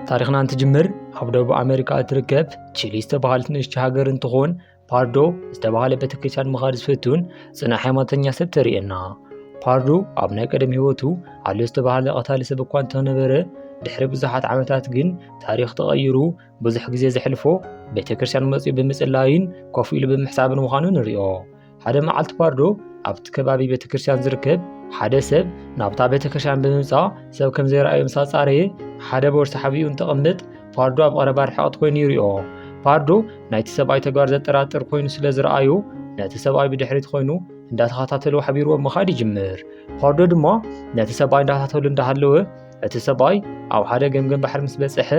ታሪኽና እንትጅምር ኣብ ደቡብ ኣሜሪካ እትርከብ ቺሊ ዝተባሃለት ንእሽቲ ሃገር እንትኾን ፓርዶ ዝተባሃለ ቤተክርስትያን ምኻድ ዝፈቱን ፅና ሃይማኖተኛ ሰብ ተርእየና ፓርዶ ኣብ ናይ ቀደም ህይወቱ ኣሎ ዝተባሃለ ቀታሊ ሰብ እኳ እንተነበረ ድሕሪ ብዙሓት ዓመታት ግን ታሪኽ ተቐይሩ ብዙሕ ግዜ ዘሕልፎ ቤተክርስትያን መፅኡ ብምፅላይን ኮፍ ኢሉ ብምሕሳብን ምዃኑ ንሪኦ ሓደ መዓልቲ ፓርዶ ኣብቲ ከባቢ ቤተ ክርስቲያን ዝርከብ ሓደ ሰብ ናብታ ቤተ ክርስቲያን ብምምፃእ ሰብ ከም ዘይረኣዩ ምስ ኣፃረየ ሓደ ቦርሳ ሓቢኡ እንትቕምጥ ፓርዶ ኣብ ቐረባ ርሕቐት ኮይኑ ይሪኦ ፓርዶ ናይቲ ሰብኣይ ተግባር ዘጠራጥር ኮይኑ ስለ ዝረኣዩ ነቲ ሰብኣይ ብድሕሪት ኮይኑ እንዳተኸታተሉ ሓቢርዎ ምኻድ ይጅምር ፓርዶ ድማ ነቲ ሰብኣይ እንዳተኸታተሉ እንዳሃለወ እቲ ሰብኣይ ኣብ ሓደ ገምገም ባሕሪ ምስ በፅሐ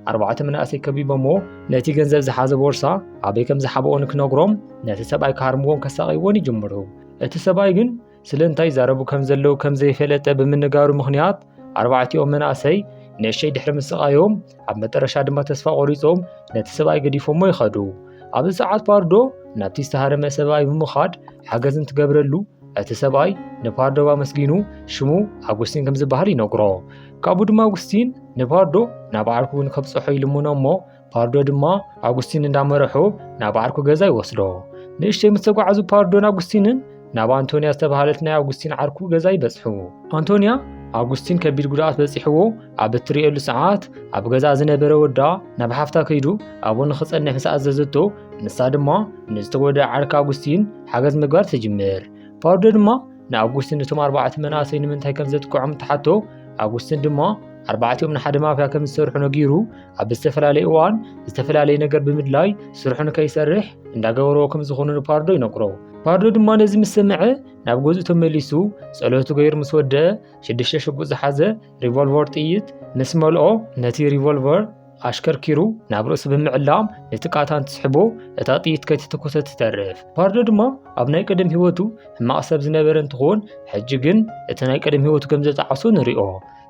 ኣርባዕተ መናእሰይ ከቢቦምዎ ነቲ ገንዘብ ዝሓዘ ቦርሳ ኣበይ ከም ዝሓብኦ ንክነግሮም ነቲ ሰብኣይ ክሃርምዎን ከሳቐይዎን ይጅምሩ እቲ ሰብኣይ ግን ስለ እንታይ ይዛረቡ ከም ዘለዉ ከም ዘይፈለጠ ብምንጋሩ ምኽንያት ኣርባዕቲኦም መናእሰይ ንእሸይ ድሕሪ ምስቓዮም ኣብ መጠረሻ ድማ ተስፋ ቆሪፆም ነቲ ሰብኣይ ገዲፎሞ ይኸዱ ኣብዚ ሰዓት ፓርዶ ናብቲ ዝተሃረመ ሰብኣይ ብምኻድ ሓገዝ እንትገብረሉ እቲ ሰብኣይ ንፓርዶብ ኣመስጊኑ ሽሙ ኣጉስቲን ከም ዝበሃል ይነግሮ ካብኡ ድማ ኣጉስቲን ንፓርዶ ናብ ዓርኩ ንከብፅሖ ይልምኖ እሞ ፓርዶ ድማ ኣጉስቲን እንዳመረሖ ናብ ዓርኩ ገዛ ይወስዶ ንእሽተይ ምስ ተጓዓዙ ፓርዶን ኣጉስቲንን ናብ ኣንቶንያ ዝተባሃለት ናይ ኣጉስቲን ዓርኩ ገዛ ይበፅሑ ኣንቶንያ ኣጉስቲን ከቢድ ጉድኣት በፂሕዎ ኣብ እትርእየሉ ሰዓት ኣብ ገዛ ዝነበረ ወዳ ናብ ሓፍታ ከይዱ ኣብኡ ንክፀንሕ ምስ ኣዘዘቶ ንሳ ድማ ንዝተጎድኣ ዓርኪ ኣጉስቲን ሓገዝ ምግባር ትጅምር ፓርዶ ድማ ንኣጉስትን እቶም ኣርባዕተ መናእሰይ ንምንታይ ከም ዘጥቅዖም ተሓቶ ኣጉስትን ድማ ኣርባዕቲኦም ንሓደ ማፍያ ከም ዝሰርሑ ነጊሩ ኣብ ዝተፈላለየ እዋን ዝተፈላለየ ነገር ብምድላይ ስርሑ ንከይሰርሕ እንዳገበረዎ ከም ዝኾኑ ንፓርዶ ይነግሮ ፓርዶ ድማ ነዚ ምስ ሰምዐ ናብ ገዝኡ ተመሊሱ ጸሎቱ ገይሩ ምስ ወደአ ሽዱሽተ ሽጉጥ ዝሓዘ ሪቮልቨር ጥይት ምስ መልኦ ነቲ ሪቮልቨር ኣሽከርኪሩ ናብ ርእሱ ብምዕላም ነቲ ቃታ እንትስሕቦ እታ ጥይት ከይተተኮሰ ትተርፍ። ፓርዶ ድማ ኣብ ናይ ቀደም ህይወቱ ሕማቕ ሰብ ዝነበረ እንትኾን ሕጂ ግን እቲ ናይ ቀደም ህይወቱ ከም ዘጣዓሶ ንሪኦ።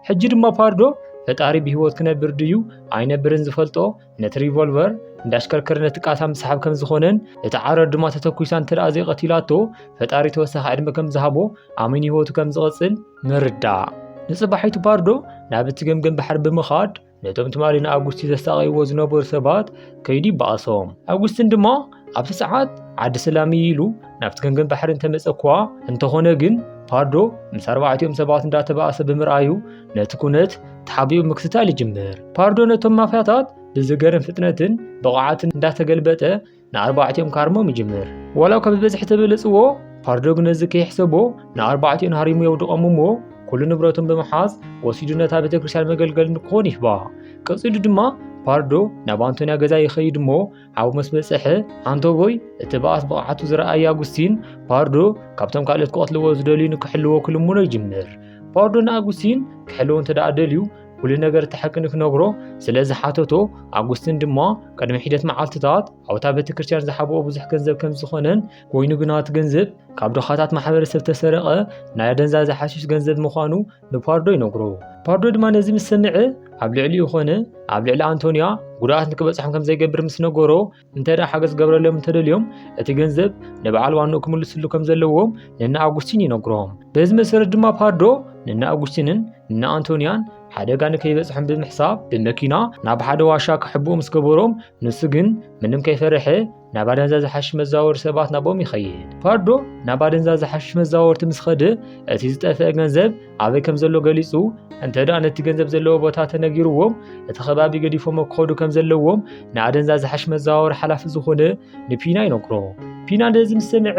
ሕጂ ድማ ፓርዶ ፈጣሪ ብህይወት ክነብር ድዩ ኣይነብርን ዝፈልጦ ነቲ ሪቮልቨር እንዳሽከርከረ ነቲ ቃታ ምስሓብ ከም ዝኾነን እቲ ዓረር ድማ ተተኩሳ እንተደኣ ዘይቐቲላቶ ፈጣሪ ተወሳኺ ዕድመ ከም ዝሃቦ ኣሚን ህይወቱ ከም ዝቕፅል ምርዳእ። ንፅባሒቱ ፓርዶ ናብ እቲ ገምገም ባሕሪ ብምኻድ ነቶም ትማሊ ንኣጉስቲ ዘሳቐይዎ ዝነበሩ ሰባት ከይዱ ይበኣሶም ኣጉስትን ድማ ኣብቲ ሰዓት ዓዲ ሰላም እዩ ኢሉ ናብቲ ገንገን ባሕሪ እንተመፀ እኳ እንተኾነ ግን ፓርዶ ምስ ኣርባዕቲኦም ሰባት እንዳተባእሰ ብምርኣዩ ነቲ ኩነት ተሓቢኡ ምክትታል ይጅምር ፓርዶ ነቶም ማፍያታት ብዝገርም ፍጥነትን ብቕዓትን እንዳተገልበጠ ንኣርባዕቲኦም ክሃርሞም ይጅምር ዋላ እኳ ብብዝሒ ተበለጽዎ ፓርዶ ግን እዚ ከይሕሰቦ ንኣርባዕቲኦን ሃሪሙ የውድቖም እሞ ኩሉ ንብረቶም ብምሓዝ ወሲዱ ነታ ቤተ ክርስቲያን መገልገል ንክኾን ይህባ ቀጺሉ ድማ ፓርዶ ናብ ኣንቶንያ ገዛ ይኸይድ እሞ ሓው ምስ በጽሐ ኣንቶቦይ እቲ በኣስ ብቕዓቱ ዝረኣየ ኣጉስቲን ፓርዶ ካብቶም ካልኦት ክቐትልዎ ዝደልዩ ንክሕልዎ ክልምኖ ይጅምር ፓርዶ ንኣጉስቲን ክሕልዎ እንተ ደኣ ደልዩ ኩሉ ነገር እቲ ሓቂ ንክነግሮ ስለ ዝሓተቶ ኣጉስትን ድማ ቅድሚ ሒደት መዓልትታት ኣብታ ቤተ ክርስቲያን ዝሓብኦ ብዙሕ ገንዘብ ከም ዝኾነን ኮይኑ ግና እቲ ገንዘብ ካብ ድኻታት ማሕበረሰብ ተሰረቐ ናይ ኣደንዛዘ ሓሽሽ ገንዘብ ምዃኑ ንፓርዶ ይነግሮ ፓርዶ ድማ ነዚ ምስ ሰምዐ ኣብ ልዕሊኡ ኮነ ኣብ ልዕሊ ኣንቶንያ ጉድኣት ንክበፅሖም ከም ዘይገብር ምስ ነገሮ እንተ ሓገዝ ዝገብረሎም እንተደልዮም እቲ ገንዘብ ንበዓል ዋንኡ ክምልስሉ ከም ዘለዎም ንና ኣጉስቲን ይነግሮም በዚ መሰረት ድማ ፓዶ ንና ኣጉስቲንን ንና ኣንቶንያን ሓደጋ ንከይበፅሖም ብምሕሳብ ብመኪና ናብ ሓደ ዋሻ ክሕብኡ ምስ ገበሮም ንሱ ግን ምንም ከይፈርሐ ናብ ኣደንዛ ዝሓሽ መዛወር ሰባት ናቦም ይኸይድ ፓዶ ናብ ኣደንዛ ዝሓሽ መዛወርቲ ምስ ኸደ እቲ ዝጠፍአ ገንዘብ ኣበይ ከም ዘሎ ገሊጹ እንተደኣ ነቲ ገንዘብ ዘለዎ ቦታ ተነጊርዎም እቲ ከባቢ ገዲፎሞ ክኸዱ ከም ዘለዎም ንኣደንዛ ዝሓሽ መዘዋወሪ ሓላፊ ዝኾነ ንፒና ይነግሮ ፒና ነዚ ምስ ሰምዐ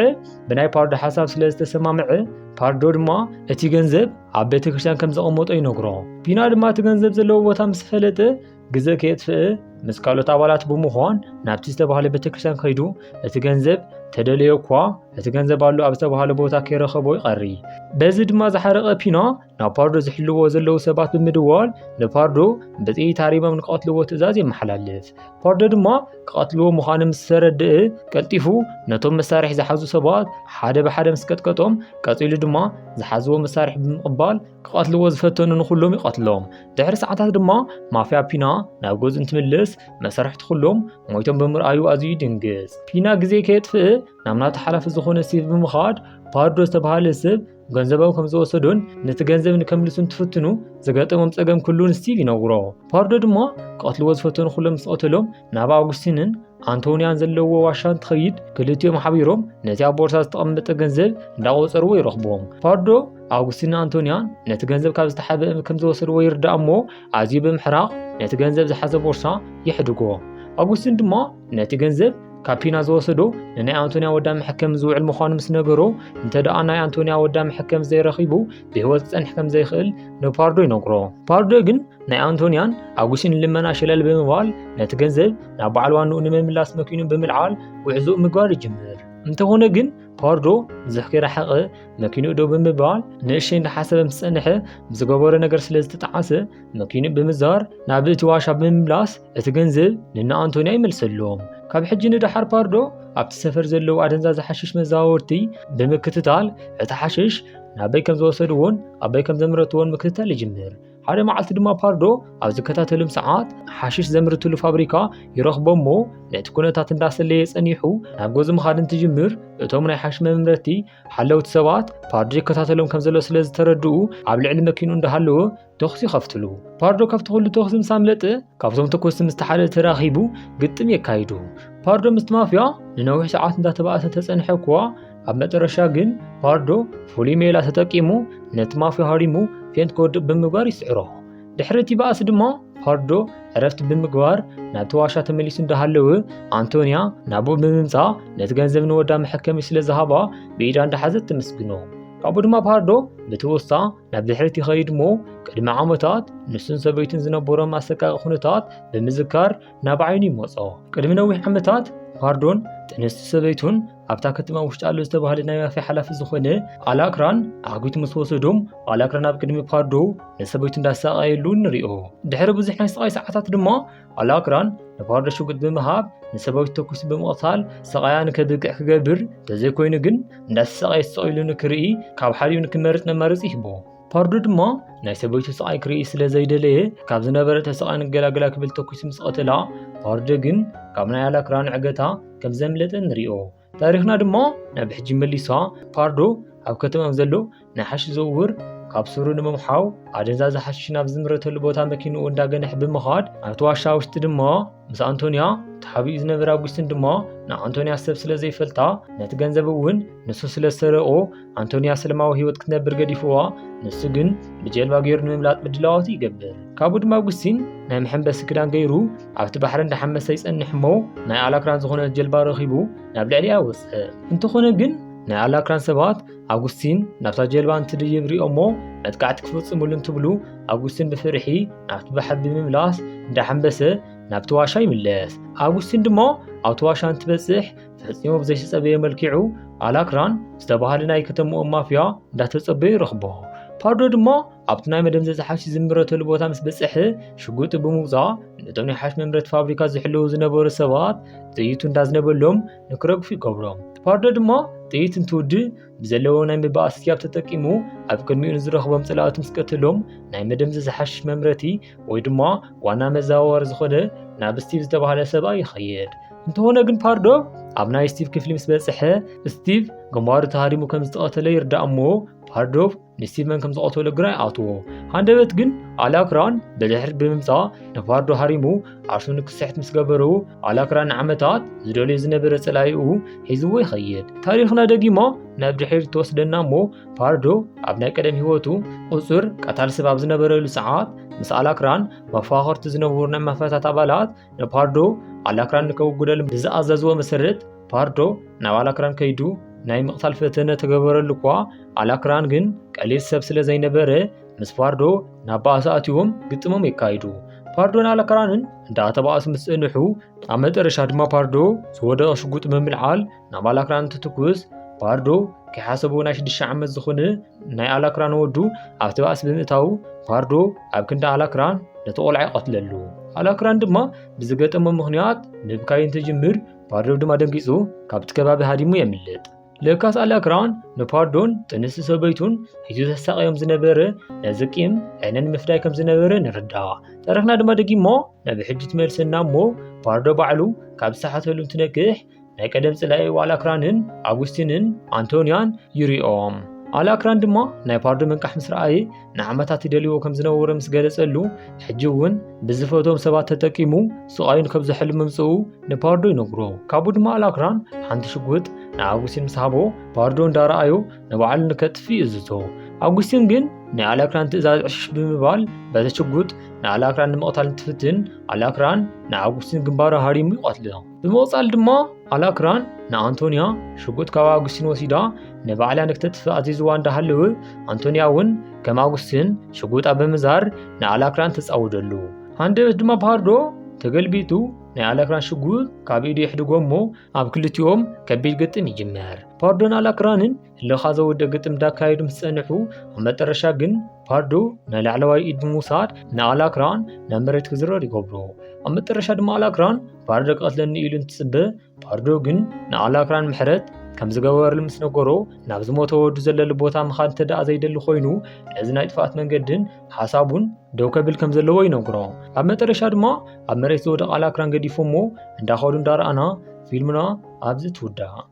ብናይ ፓርዶ ሓሳብ ስለ ዝተሰማምዐ ፓርዶ ድማ እቲ ገንዘብ ኣብ ቤተ ክርስቲያን ከም ዘቐመጦ ይነግሮ ፒና ድማ እቲ ገንዘብ ዘለዎ ቦታ ምስ ፈለጠ ግዘ ከየጥፍእ ምስ ካልኦት ኣባላት ብምዃን ናብቲ ዝተባህለ ቤተክርስትያን ከይዱ እቲ ገንዘብ ተደለዮ እኳ እቲ ገንዘብ ኣሎ ኣብ ዝተባህለ ቦታ ከይረኸቦ ይቐሪ በዚ ድማ ዝሓረቐ ፒኖ ናብ ፓርዶ ዝሕልዎ ዘለዉ ሰባት ብምድዋል ንፓርዶ ብጥይት ሃሪሞም ንክቐትልዎ ትእዛዝ የመሓላልፍ ፓርዶ ድማ ክቐትልዎ ምዃኑ ምስ ተረድእ ቀልጢፉ ነቶም መሳርሒ ዝሓዙ ሰባት ሓደ ብሓደ ምስ ቀጥቀጦም ቀፂሉ ድማ ዝሓዝዎ መሳርሒ ብምቕባል ክቐትልዎ ዝፈተኑ ንኹሎም ይቐትሎም። ድሕሪ ሰዓታት ድማ ማፍያ ፒና ናብ ገዙ እንትምልስ መሰርሕቲ ኩሎም ሞይቶም ብምርኣዩ ኣዝዩ ይድንግጽ። ፒና ግዜ ከየጥፍእ ናብ ናቱ ሓላፊ ዝኾነ ሲቭ ብምኻድ ፓርዶ ዝተባሃለ ስብ ገንዘቦም ከም ዝወሰዱን ነቲ ገንዘብ ንከምልሱ እንትፍትኑ ዝገጠሞም ጸገም ኩሉ ንስቲቭ ይነግሮ። ፓርዶ ድማ ክቐትልዎ ዝፈተኑ ኩሎም ምስ ቀተሎም ናብ ኣውግስቲንን ኣንቶንያን ዘለዎ ዋሻ እንትኸይድ ክልቲኦም ሓቢሮም ነቲ ኣብ ቦርሳ ዝተቐመጠ ገንዘብ እንዳቆጸርዎ ይረኽብዎም። ፓርዶ ኣውግስቲን ኣንቶንያን ነቲ ገንዘብ ካብ ዝተሓበ ከም ዝወሰድዎ ይርዳእ እሞ ኣዝዩ ብምሕራቕ ነቲ ገንዘብ ዝሓዘ ቦርሳ ይሕድጎ። ኣውግስቲን ድማ ነቲ ገንዘብ ካብ ፒና ዝወሰዶ ንናይ ኣንቶንያ ወዳ መሕከም ዝውዕል ምዃኑ ምስ ነገሮ እንተ ደኣ ናይ ኣንቶንያ ወዳ መሕከም ዘይረኺቡ ብህይወት ክጸንሕ ከም ዘይኽእል ንፓርዶ ይነግሮ። ፓርዶ ግን ናይ ኣንቶንያን ኣጉስን ልመና ሸለል ብምባል ነቲ ገንዘብ ናብ በዓል ዋንኡ ንምምላስ መኪኑ ብምልዓል ጉዕዞኡ ምግባር ይጅምር እንተኾነ ግን ፓርዶ ብዙሕ ከይረሓቐ መኪኑ ዶ ብምባል ንእሽተይ እንዳሓሰበ ምስ ፀንሐ ብዝገበሮ ነገር ስለ ዝተጠዓሰ መኪኑ ብምዛር ናብ እቲ ዋሻ ብምምላስ እቲ ገንዘብ ንና ኣንቶንያ ይመልሰሎም ካብ ሕጂ ንደሓር ፓርዶ ኣብቲ ሰፈር ዘለዉ ኣደንዛዚ ሓሽሽ መዛወርቲ ብምክትታል እቲ ሓሽሽ ናበይ ከም ዝወሰድዎን ኣበይ ከም ዘምረትዎን ምክትታል ይጅምር ሓደ መዓልቲ ድማ ፓርዶ ኣብ ዝከታተልም ሰዓት ሓሽሽ ዘምርትሉ ፋብሪካ ይረኽቦ እሞ ነቲ ኩነታት እንዳሰለየ ጸኒሑ ናብ ጎዚ ምኻድ እንትጅምር እቶም ናይ ሓሽ መምረቲ ሓለውቲ ሰባት ፓርዶ ይከታተሎም ከም ዘሎ ስለ ዝተረድኡ ኣብ ልዕሊ መኪኑ እንዳሃለወ ተኹሲ ይኸፍትሉ። ፓርዶ ካብቲ ኩሉ ተኹሲ ምስ ኣምለጠ ካብቶም ተኮስቲ ምስ ተሓደ ተራኺቡ ግጥም የካይዱ። ፓርዶ ምስቲ ማፍያ ንነዊሕ ሰዓት እንዳተባእሰ ተጸንሐ እኳ ኣብ መጨረሻ ግን ፓርዶ ፍሉይ ሜላ ተጠቂሙ ነቲ ማፍዮ ሃሪሙ ፌንት ክወድቕ ብምግባር ይስዕሮ። ድሕሪ እቲ ባእሲ ድማ ፓርዶ ዕረፍቲ ብምግባር ናብቲ ዋሻ ተመሊሱ እንዳሃለወ ኣንቶንያ ናብኡ ብምምፃእ ነቲ ገንዘብ ንወዳ መሐከሚ ስለ ዝሃባ ብኢዳ እንዳሓዘት ተመስግኖ። ካብኡ ድማ ፓርዶ ብትውስታ ናብ ድሕሪት ይኸይድ እሞ ቅድሚ ዓመታት ንሱን ሰበይቱን ዝነበሮም ኣሰቃቂ ኩነታት ብምዝካር ናብ ዓይኑ ይመጾ። ቅድሚ ነዊሕ ዓመታት ፓርዶን ጥንስቲ ሰበይቱን ኣብታ ከተማ ውሽጢ ኣሎ ዝተባህለ ናይ ማፍያ ሓላፊ ዝኾነ ኣላክራን ኣጒት ምስ ወሰዶም ኣላክራን ኣብ ቅድሚ ፓርዶ ንሰበይቱ እንዳሳቐየሉ ንሪኦ ድሕሪ ብዙሕ ናይ ስቓይ ሰዓታት ድማ ኣላክራን ንፓርዶ ሽጉጥ ብምሃብ ንሰበይቱ ተኩሲ ብምቕታል ስቓያ ንከብቅዕ ክገብር እንተዘይኮይኑ ግን እንዳተሰቓየ ተሰቒሉ ንክርኢ ካብ ሓዲኡ ንክመርፅ መማረፂ ይህቦ ፓርዱ ድማ ናይ ሰበይቱ ስቓይ ክርኢ ስለ ዘይደለየ ካብ ዝነበረ ተስቓ ንገላግላ ክብል ተኲሱ ምስ ቐተላ ፓርዱ ግን ካብ ናይ ኣላክራ ንዕገታ ከም ዘምለጠ ንሪኦ ታሪኽና ድማ ናብ ሕጂ መሊሳ ፓርዶ ኣብ ከተማ ዘሎ ናይ ሓሽ ዝውውር ካብ ሱሩ ንምምሓው ኣደንዛዘ ሓሽሽ ናብ ዝምረተሉ ቦታ መኪንኡ እንዳገነሕ ብምኻድ ኣብቲ ዋሻ ውሽጢ ድማ ምስ ኣንቶንያ ተሓቢኡ ዝነበረ ኣጉስትን ድማ ንኣንቶንያ ሰብ ስለ ዘይፈልጣ ነቲ ገንዘብ እውን ንሱ ስለ ዝሰረቆ ኣንቶንያ ሰለማዊ ህይወት ክትነብር ገዲፍዋ ንሱ ግን ብጀልባ ገይሩ ንምምላጥ ምድላዋቱ ይገብር ካብኡ ድማ ኣጉስቲን ናይ መሐንበሲ ክዳን ገይሩ ኣብቲ ባሕሪ እንዳሓመሰ ይጸንሕ እሞ ናይ ኣላክራን ዝኾነት ጀልባ ረኺቡ ናብ ልዕሊኣ ወፅእ እንተኾነ ግን ናይ ኣላክራን ሰባት ኣጉስቲን ናብታ ጀልባ እንትድይብ ሪኦሞ መጥቃዕቲ ክፍጽሙሉ እንትብሉ ኣጉስቲን ብፍርሒ ናብቲ ባሕሪ ብምምላስ እንዳሓንበሰ ናብቲ ዋሻ ይምለስ። ኣጉስቲን ድማ ኣብቲ ዋሻ እንትበጽሕ ፈጺሙ ብዘይተጸበየ መልኪዑ ኣላክራን ዝተባሃለ ናይ ከተምኡ ማፍያ እንዳተጸበዩ ይረኽቦ። ፓርዶ ድማ ኣብቲ ናይ መደምዘዚ ሓሽ ዝምረተሉ ቦታ ምስ በጽሐ ሽጉጢ ብምውጻእ ነቶም ናይ ሓሽ መምረት ፋብሪካ ዝሕልው ዝነበሩ ሰባት ጥይቱ እንዳዝነበሎም ንክረግፉ ይገብሮም። ፓርዶ ድማ ጥይት እንትውድእ ብዘለዎ ናይ ምባኣስ ስያብ ተጠቂሙ ኣብ ቅድሚኡ ንዝረኽቦም ጸላእቱ ምስ ቀትሎም ናይ መደምዘዚ ሓሽሽ መምረቲ ወይ ድማ ዋና መዘዋወሪ ዝኾነ ናብ ስቲቭ ዝተባህለ ሰብኣይ ይኸይድ። እንተኾነ ግን ፓርዶ ኣብ ናይ ስቲቭ ክፍሊ ምስ በጽሐ ስቲቭ ግንባሩ ተሃሪሙ ከም ዝተቐተለ ይርዳእ እሞ ፓርዶ ንስቲቨን ከም ዝቐተሎ ግራ ይኣትዎ ሃንደበት ግን ኣላክራን ብድሕር ብምምፃ ንፋርዶ ሃሪሙ ዓርሱ ንክስሕት ምስ ገበሩ ኣላክራን ንዓመታት ዝደልዮ ዝነበረ ፀላይኡ ሒዝዎ ይኸይድ ታሪኽና ደጊሞ ናብ ድሕር ተወስደና እሞ ፋርዶ ኣብ ናይ ቀደም ህይወቱ ቁፅር ቀታል ስብ ኣብ ዝነበረሉ ሰዓት ምስ ኣላክራን መፋኸርቲ ዝነበሩ ናይ መፈታት ኣባላት ንፋርዶ ኣላክራን ንከውጉደሉ ብዝኣዘዝዎ መሰረት ፓርዶ ናብ ኣላክራን ከይዱ ናይ ምቕታል ፈተነ ተገበረሉ እኳ ኣላክራን ግን ቀሊል ሰብ ስለ ዘይነበረ ምስ ፓርዶ ናብ ባእሲ ኣትዎም ግጥሞም የካይዱ። ፓርዶን ኣላክራንን እንዳተባእሱ ምስ ጸንሑ ኣብ መጠረሻ ድማ ፓርዶ ዝወደቐ ሽጉጥ ብምልዓል ናብ ኣላክራን እንትትኩስ ፓርዶ ከይሓሰቦ ናይ ሽዱሽተ ዓመት ዝኾነ ናይ ኣላክራን ወዱ ኣብቲ ባእሲ ብምእታው ፓርዶ ኣብ ክንዲ ኣላክራን ነቲ ቆልዓ ይቐትለሉ። ኣላክራን ድማ ብዝገጠሞ ምኽንያት ምብካይ እንትጅምር ፓርዶን ድማ ደንጊጹ ካብቲ ከባቢ ሃዲሙ የምልጥ። ለካስ ኣላክራን ንፓርዶን ጥንሲ ሰበይቱን ሒዙ ዘሳቀዮም ዝነበረ ነዚ ቂም ዕነ ንምፍዳይ ከም ዝነበረ ንርዳእ። ታሪኽና ድማ ደጊሞ ናብ ሕጂ ትመልሰና እሞ ፓርዶ ባዕሉ ካብ ዝሰሓተሉ እንትነቅሕ ናይ ቀደም ጽላኤኡ ኣላክራንን ኣጉስቲንን ኣንቶንያን ይሪኦም። ኣላክራን ድማ ናይ ፓርዶ ምንቃሕ ምስ ረኣየ ንዓመታት ይደልዎ ከም ዝነበረ ምስ ገለጸሉ ሕጂ እውን ብዝፈቶም ሰባት ተጠቂሙ ስቓዩን ከም ዘሕሉ ምምጽኡ ንፓርዶ ይነግሮ ካቡ ድማ ኣላክራን ሓንቲ ሽጉጥ ንኣጉስቲን ምስ ሃቦ ፓርዶ እንዳረኣዮ ንባዕሉ ንከጥፊ እዝቶ ኣጉስቲን ግን ናይ ኣላክራን ትእዛዝ ዕሽሽ ብምባል በቲ ሽጉጥ ንኣላክራን ንምቕታል እንትፍትን ኣላክራን ንኣጉስቲን ግንባሩ ሃሪሙ ይቐትሎ ብምቕጻል ድማ ኣላክራን ንኣንቶንያ ሽጉጥ ካብ ኣጉስቲን ወሲዳ ንባዕላ ንክተጥፍእ ኣዚዝዋ እንዳሃለወ ኣንቶንያ እውን ከም ኣጉስቲን ሽጉጣ ብምዛር ንኣላክራን ተጻውደሉ ሃንደበት ድማ ፓርዶ ተገልቢጡ ናይ ኣላክራን ሽጉጥ ካብ ኢዱ የሕድጎ እሞ ኣብ ክልቲኦም ከቢድ ግጥም ይጅመር ፓርዶን ኣላክራንን እልኻ ዘወደ ግጥም ዳካየዱ ምስ ጸንሑ ኣብ መጠረሻ ግን ፓርዶ ናይ ላዕለዋይ ኢድ ብምውሳድ ንኣላክራን ናብ መሬት ክዝረር ይገብሮ ኣብ መጠረሻ ድማ ኣላክራን ፓርዶ ክቐትለኒ ኢሉ እንትጽበ ፓርዶ ግን ንኣላክራን ምሕረት ከም ዝገበረሉ ምስ ነገሮ ናብ ዝሞተ ወዱ ዘለሉ ቦታ ምኻድ እንተ ደኣ ዘይደሊ ኮይኑ ነዚ ናይ ጥፍኣት መንገድን ሓሳቡን ደው ከብል ከም ዘለዎ ይነግሮ ኣብ መጠረሻ ድማ ኣብ መሬት ዝወደቕ ኣላክራን ገዲፎ እሞ እንዳኸዱ እንዳረኣና ፊልምና ኣብዚ ትውዳእ